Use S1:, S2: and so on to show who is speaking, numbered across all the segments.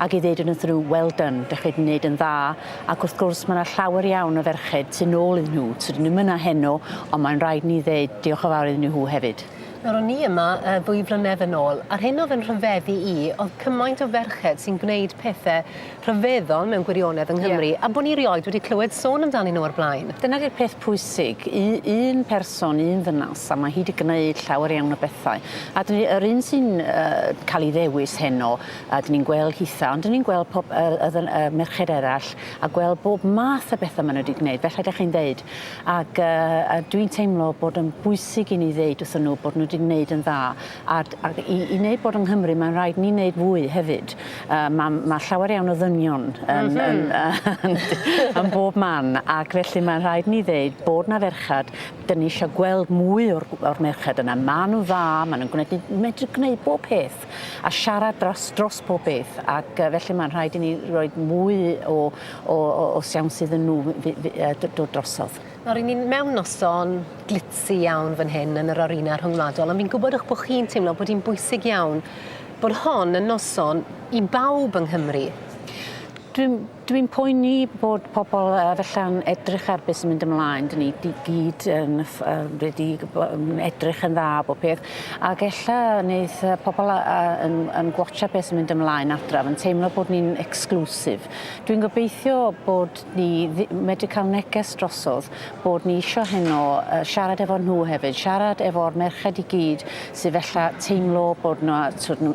S1: ac i ddeud yn y ddrwg well done, dych chi wedi wneud yn dda, ac wrth gwrs mae yna llawer iawn o ferched tu nôl iddyn nhw, tydyn nhw ddim yna heno, ond mae'n rhaid ni ddeud diolch yn fawr iddyn nhw hefyd. Nawr o'n i yma
S2: ddwy flynedd yn ôl, a'r hyn oedd yn rhyfeddu i oedd cymaint o ferched sy'n gwneud pethe rhyfeddol mewn gwirionedd yng Nghymru, a bod ni rioed wedi clywed sôn amdanyn nhw o'r blaen. Dyna di'r peth pwysig,
S1: un person, un ddynas, a mae hi wedi gwneud llawer iawn o bethau, a yr un sy'n cael ei ddewis heno, a dyn ni'n gweld hitha, ond dyn ni'n gweld pob, y, y, y, y merched eraill, a gweld bob math o bethau maen nhw wedi gwneud, felly ydych chi'n ddeud. Ac uh, a dwi'n teimlo bod yn bwysig i ni ddeud wrthyn nhw bod nhw wedi gwneud yn dda, a, a i, i wneud bod yng Nghymru mae'n rhaid ni wneud fwy hefyd. Uh, mae ma llawer iawn o ddynion yn, mm -hmm. yn, yn, yn bob man, ac felly mae'n rhaid ni ddeud bod na ferchad, dyn ni eisiau gweld mwy o'r, or merched yna. Maen nhw'n dda, maen nhw'n gwneud, medru gwneud bob peth. siop a siarad dros dros pob peth ac yy felly mae'n rhaid i ni roed mwy o o o o siawns iddyn nhw fy- fy- yy d- dod drosodd. Nawr ry'n ni'n mewn
S2: noson glitzy iawn fan hyn yn yr Arena Rhyngwladol ond fi'n gwybod eich bod chi'n teimlo bod hi'n bwysig iawn bod hon yn noson i bawb yng Nghymru. Dwi'n
S1: Dwi'n poeni bod pobl felly'n edrych ar beth sy'n mynd ymlaen. Dyn ni i gyd yn wedi edrych yn dda bod peth. Ac ella wneud pobl yn, yn gwatcha beth sy'n mynd ymlaen adraf yn teimlo bod ni'n exclusive. Dwi'n gobeithio bod ni medru cael neges drosodd bod ni eisiau heno siarad efo nhw hefyd, siarad efo'r merched i gyd sydd felly teimlo bod nhw,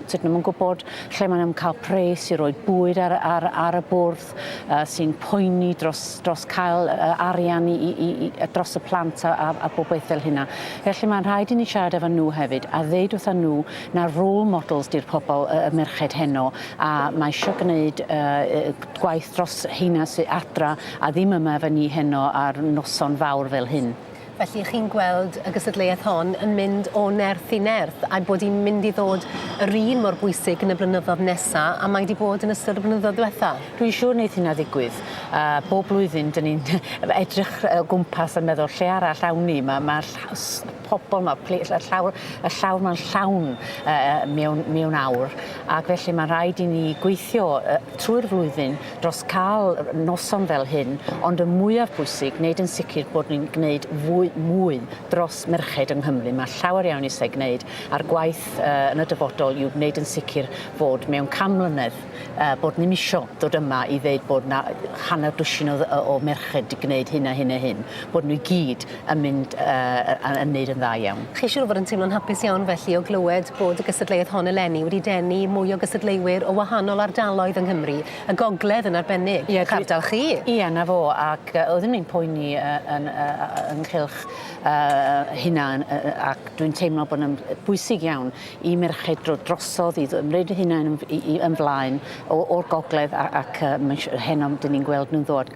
S1: tyd nhw'n gwybod lle maen nhw'n cael pres i roi bwyd ar, ar, ar y bwrdd, uh, sy'n poeni dros, dros cael uh, arian i, i, i, dros y plant a, a, a bob beth fel hynna. Felly mae'n rhaid i ni siarad efo nhw hefyd a ddeud wrth nhw na rôl models di'r pobl y uh, merched heno a mae eisiau gwneud uh, gwaith dros heina sy'n adra a ddim yma efo ni heno ar noson fawr fel hyn. Felly chi'n
S2: gweld y gystadleuaeth hon yn mynd o nerth i nerth a'i bod hi'n mynd i ddod yr un mor bwysig yn y blynyddodd nesa a mae 'di bod yn ystod y blynyddoedd dwetha. Dwi'n siŵr neith hynna
S1: ddigwydd a bob blwyddyn 'dyn ni'n edrych o gwmpas a meddwl lle arall awn ni ma' ma' ll- s- pobol ma' pli- y llawr y llawr ma'n llawn yy yy mewn mewn awr ac felly ma'n rhaid i ni gweithio yy trwy'r flwyddyn dros cael noson fel hyn, ond y mwyaf bwysig, wneud yn sicr bod ni'n gwneud fwy, mwy dros merched yng Nghymru. Mae llawer iawn eisiau gwneud, a'r gwaith uh, yn y dyfodol yw gwneud yn sicr bod mewn cam mlynedd uh, bod ni'n isio dod yma i ddeud bod na hanner dwsin o, o merched di gwneud hyn a hyn a hyn, bod nhw i gyd yn mynd yy yn neud yn dda iawn. Chi siŵr o fod yn teimlo'n hapus
S2: iawn felly o glywed bod y gystadleuaeth hon eleni wedi denu mwy o gystadleuwyr o wahanol ardaloedd yng Nghymru, y gogledd yn arbennig, Ie, ardal chi? Ie, 'na fo,
S1: ac yy oeddwn i'n poeni yy yn yy yy ynghylch yy hynna yn yy yy ac dwi'n teimlo bod yn bwysig iawn i merched dro- drosodd i ymreid eu hunain yn f- i i yn flaen o o'r gogledd a- ac yy mae isio heno 'dyn ni'n gweld nhw'n ddod.